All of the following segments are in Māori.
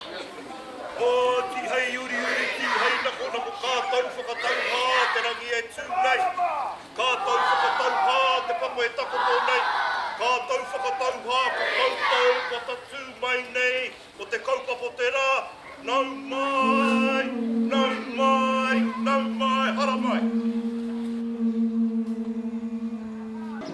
Ā, kīhai uriuri, kīhai nakonako kātou whakatauhā te rangi e tū nei, kātou whakatauhā te papa e takoto nei, kātou whakatauhā ko koutou kua tatū mai nei ko te kaupapa o te rā, nau mai, nau mai, nau mai, haramai.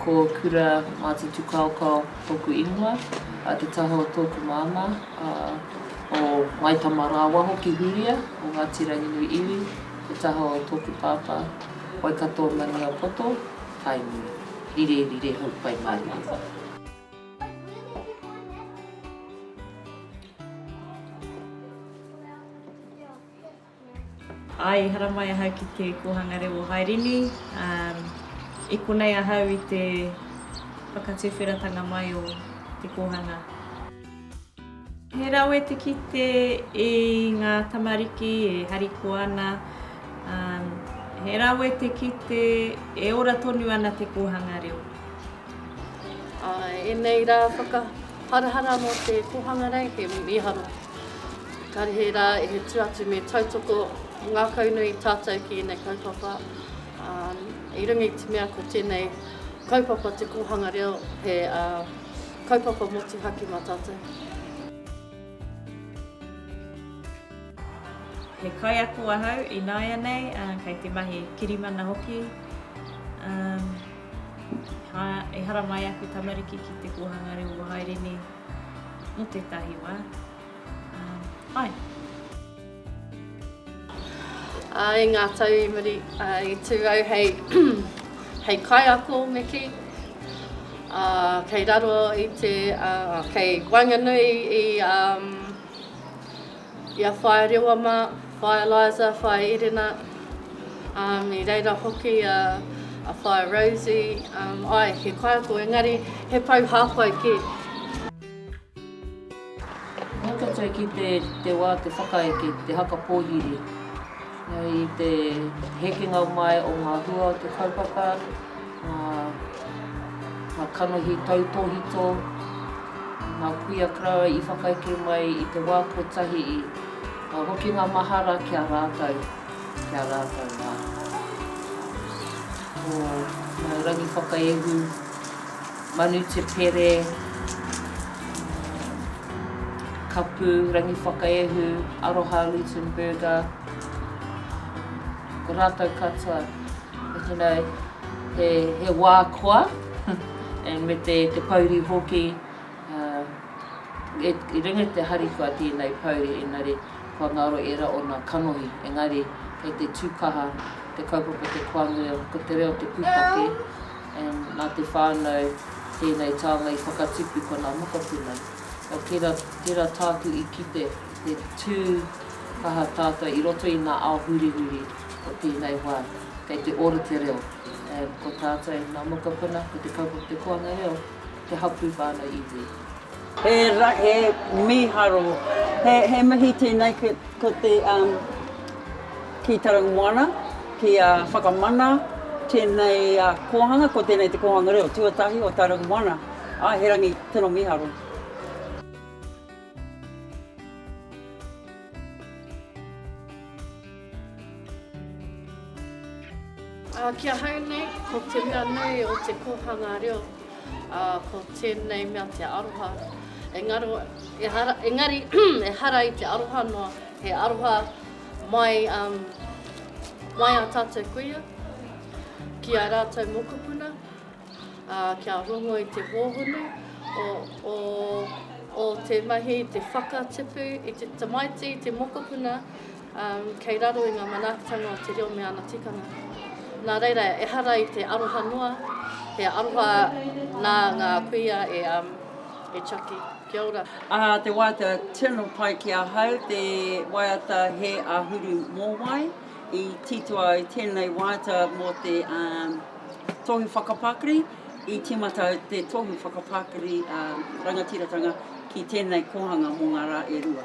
Ko Kura Mātutukaokao tōku ingoa, a Te Taho tōku māmā, a o Ngāi Tamarāwaho ki Hūria, o Ngāti Ranginui iwi, Te Taho tōku pāpā, Waikato Maniapoto, Tainui, rire rire hau pai mārire. Āe, i haramai ahau ki te kōhanga reo o Hairini, ā, i konei ahau i te whakatuwheratanga mai o te kōhanga. He rawe te kite i ngā tamariki e harikoa ana, ā, he rawe te kite e ora tonu ana te kōhanga reo. Enei ra whakaharahara mo te Kohanga Rei he miharo karihe ra e tu atu me tautoko ngakau nui tatou ki enei kaupapa i runga i te mea ko tenei kaupapa te Kohanga Reo he kaupapa motuhake ma tatou. He kaiako ahau inaianei kei te mahi kirimana hoki. Hā, ehara mai aku tamariki ki te kōhanga reo o haere nei mō tētahi wā. Ā, āe. Ā, i ngā tau i muri, ā, i tū au hei, hei kaiako me kī, ā, kei raro i te, ā, kei waenganui i, ā, I a Whaea Rewa mā, Whaea Eliza, Whaea Erena, um, i reira hoki a, a Whaea Rosie, um, ai, he kaiako, engari he pou hāpai kē. Mō toto e kī te, te wā te whakaeke, te haka pōhiri, i te hekenga mai o ngā hua o te kaupapa, Ngā kanohi tautōhito, ngā kuia karawa i whakaeke mai i te wā kotahi i ngā hokinga mahara ki a rātou, ki a rātou mā. Ko Ngāi Rangiwhakaehu, Manu Te Pere, Kapu Rangiwhakaehu, Aroha Luitenberger, ko rātou katoa. You know, he wā koa and me te pouri hoki, i runga i te harikoa tēnei pouri engari kua ngaro ērā o ngā kanohi engari kei te tū kaha te kaupapa te koa nui ko te reo te pūtake and nā te whānau tēnei taonga i whakatupu ko ngā mokopuna. Nō tērā, tērā tāku i kite, he tū kaha tātou i roto i ngā ao hurihuri. Ko tēnei wā, kei te ora te reo, ē, ko tātou nā mokopuna, ko te kaupapa Te Koanga Reo, te hapū whānau iwi. He ra, he miharo, he, he mihi tēnei ki, ko te, um, ki Taraumoana, ki a Whakamana, tēnei a kōhanga, ko tēnei Te Kōhanga Reo tuatahi o Taraumoana. Āe, he rangi, tino miharo. Ki ahau nei, ko te mea nui o te kōhanga reo, ko tēnei mea te aroha. Engaro, ehara, engari, ehara i te aroha noa, he aroha mai, um, mai a tātou kuia, ki a rātou mokopuna, uh, kia rongo i te hōhonu o, o, o te mahi, te whakatipu i te tamaiti, te mokopuna, Kei raro i ngā manaakitanga o te reo me ana tikanga. Nā reira, ehara i te aroha noa, he aroha nā ngā kuia e Chucky. Kia ora. Aha te waiata tino pai ki ahau, te waiata he āhuru mōwai. I titoa ai tēnei waiata mō te tohu whakapakari, i tīmata ai te tohu whakapakari rangatiratanga ki tēnei kōhanga mō ngā rā e rua.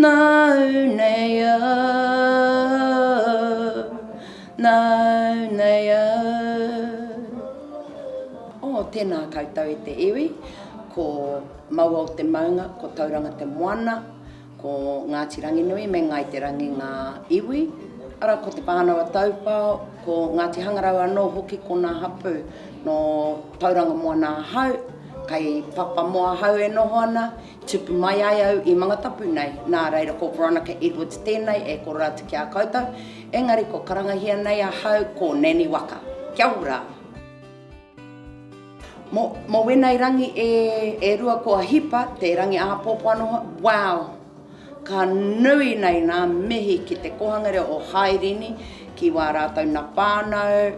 Nāu nei au, nāu nei au. Oh, tēnā koutou e te iwi, ko Maua o te Maunga, ko Tauranga te Moana, ko Ngāti Ranginui me Ngāi Te Rangi ngā iwi, arā, ko Te Pānawa Taupao, ko Ngāti Hangarau anō hoki konā hapū. Nō Tauranga Moana ahau, kei Papamoa ahau e noho ana, Tupu mai ai au i Mangatapu nei, nā reira ko Veronica Edwards tēnei e koro atu ki a koutou, engari kua karangahia nei ahau ko Nanny Waka. Kia ora! Mo, mo wenei rangi e, e rua kua hipa te rangi āpōpō anō hoki, wow! Ka nui nei nā mihi ki te kōhanga reo o Hairini, ki wā rātou na whānau,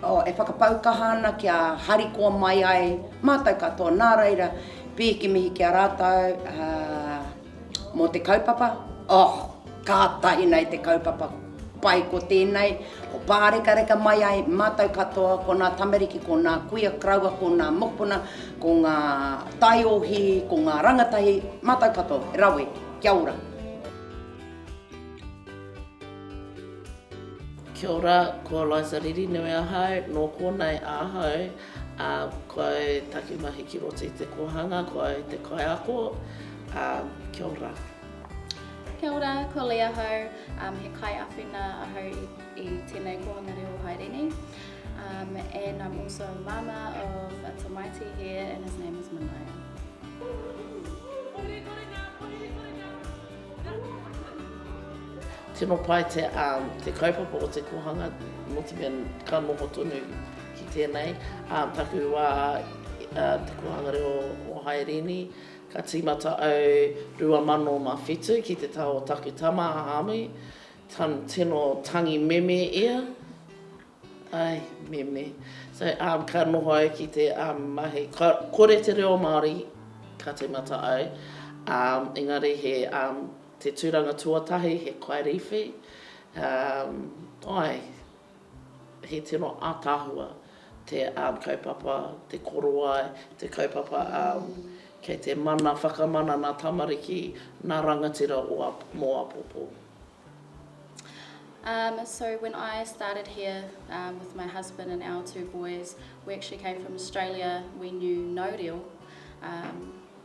oh, e whakapau kaha ana kia harikoa mai ai mātou katoa, nā reira, Pēke mihi ki a rātou mō te kaupapa. Oh, kātahi nei te kaupapa pai ko tēnei, ko pārekareka mai ai mātou katoa, ko ngā tamariki, ko ngā kuia karaua, ko ngā mokopuna, ko ngā taiohi, ko ngā rangatahi, mātou katoa, he rawe, kia ora. Kia ora, ko Eliza Riri nui ahau, nō Kōnai ahau. Ā, kua e taki mahi ki roto i te kōhanga, kua e te kaiako, ā, kia ora. Kia ora, ko Lee ahau, um, he kaiawhina ahau i, i tēnei kōhanga reo haere nei. Um, and I'm also a mama of a tamaiti here and his name is Manaia. Tino pai te, um, te kaupapa o te kōhanga, nō te mea ka noho tonu. Ki tēnei taku wā i te kōhanga reo o Haerini, ka tīmata au 2007 ki te taha o taku tama a Hāmi, tino tangi meme ia, ai, meme, so ka noho au ki te mahi, kore te reo Māori ka tīmata au, engari he te tūranga tuatahi he kaiwhiwhi, ai. He tino ataahua te kaupapa, te korowai, te kaupapa kei te mana whakamana na tamariki, na rangatira mo apopo. Um so when I started here um with my husband and our two boys we actually came from Australia we knew no reo um.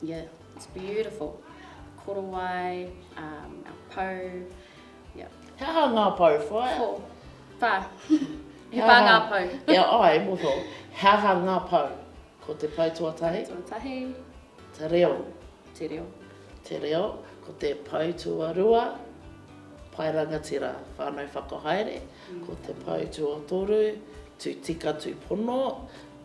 Yeah, it's beautiful. Korowai, um, our pou, yeah. He aha ngā pou, whaea? Ko, wha. He wha ngā pou. Ia, ai, e moho. He aha ngā pou? Ko te pou tuatahi. Pou tuatahi. Te reo. Te reo. Te reo. Ko te pou tuarua. Pai rangatira, whānau whakahaere. Mm. Ko te pou tuatoru. Tu tika, tu pono.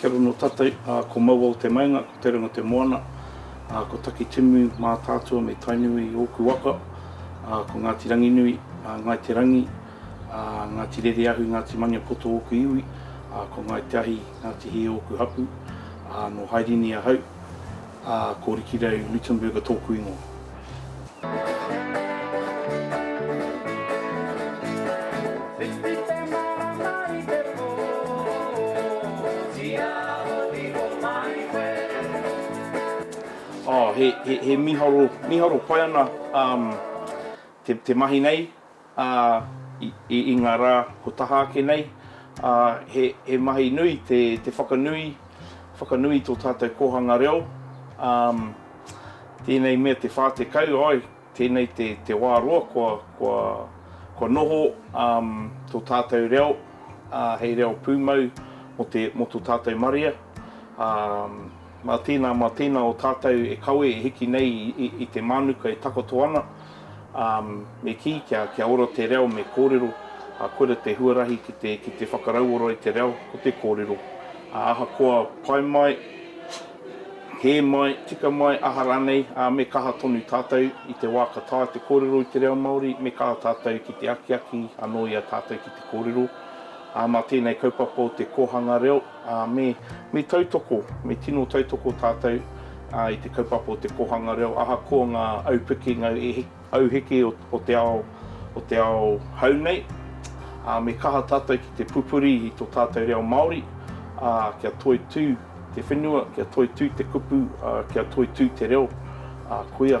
Kia ora no tatou, ko maua o te maenga, ko Terenga te moana, ko Takitimu Mātaatua me Tainui oku waka, ko Ngati Ranginui, Ngai Te Rangi. A Ngāti Rereahu, Ngāti Maniapoto ōku iwi, a ko Ngāi Te Ahi, Ngāti Hī ōku hapū, a nō Hairini ahau, a ko Rikirau Luttenberger tōku ingoa. Oh, he, he, he miharo, miharo pai ana um, te, te mahi nei. ā, i ngā rā kua taha ake nei, ā, he mahi nui te whakanui, whakanui tō tātou kōhanga reo, ā, tēnei mea te 40, āe, tēnei te wā roa kua noho tō tātou reo hei reo pūmau mō tō tātou marea, ā. Mā tēnā, mā tēnā o tātou e kawe e hiki nei i te mānuka e takoto ana, ā, me kī kia, kia ora te reo me kōrero, ā, koira te huarahi ki te, ki te whakarauora i te reo, ko te kōrero. Ā, ahakoa pai mai, hē mai, tika mai, aha rānei, ā, me kaha tonu tātou i te wā ka taea te kōrero i te reo Māori, me kaha tātou ki te akiaki anō i a tātou ki te kōrero. Ā, mā tēnei kaupapa o te kōhanga reo, Ā, me, me tautoko, me tino tautoko tātou, ā, i te kaupapa o te kōhanga reo, ahakoa ngā aupiki, ngā auheke o, o te ao, o te ao hou nei. Ā, me kaha tātou ki te pupuri i tō tātou reo Māori, ā, kia toitū te whenua, kia toitū te kupu, ā, kia toitū te reo, ā, koia.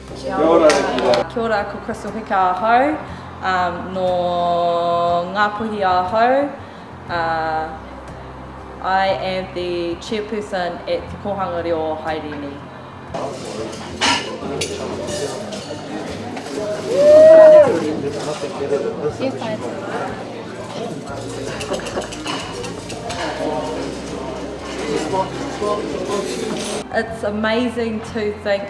Kia ora e ki rā. Kia ora, ko Crystal Hika ahau, no Ngāpuhi ahau, I am the chairperson at Te Kōhanga Reo o Haerini. It's amazing to think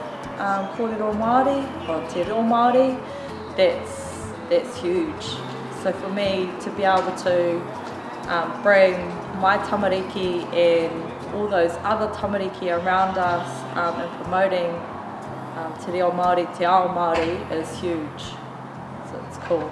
Kōrero Māori, oh, te reo Māori, that's, that's huge. So for me to be able to um, bring my tamariki and all those other tamariki around us um, and promoting um, te reo Māori, te ao Māori is huge. So it's cool.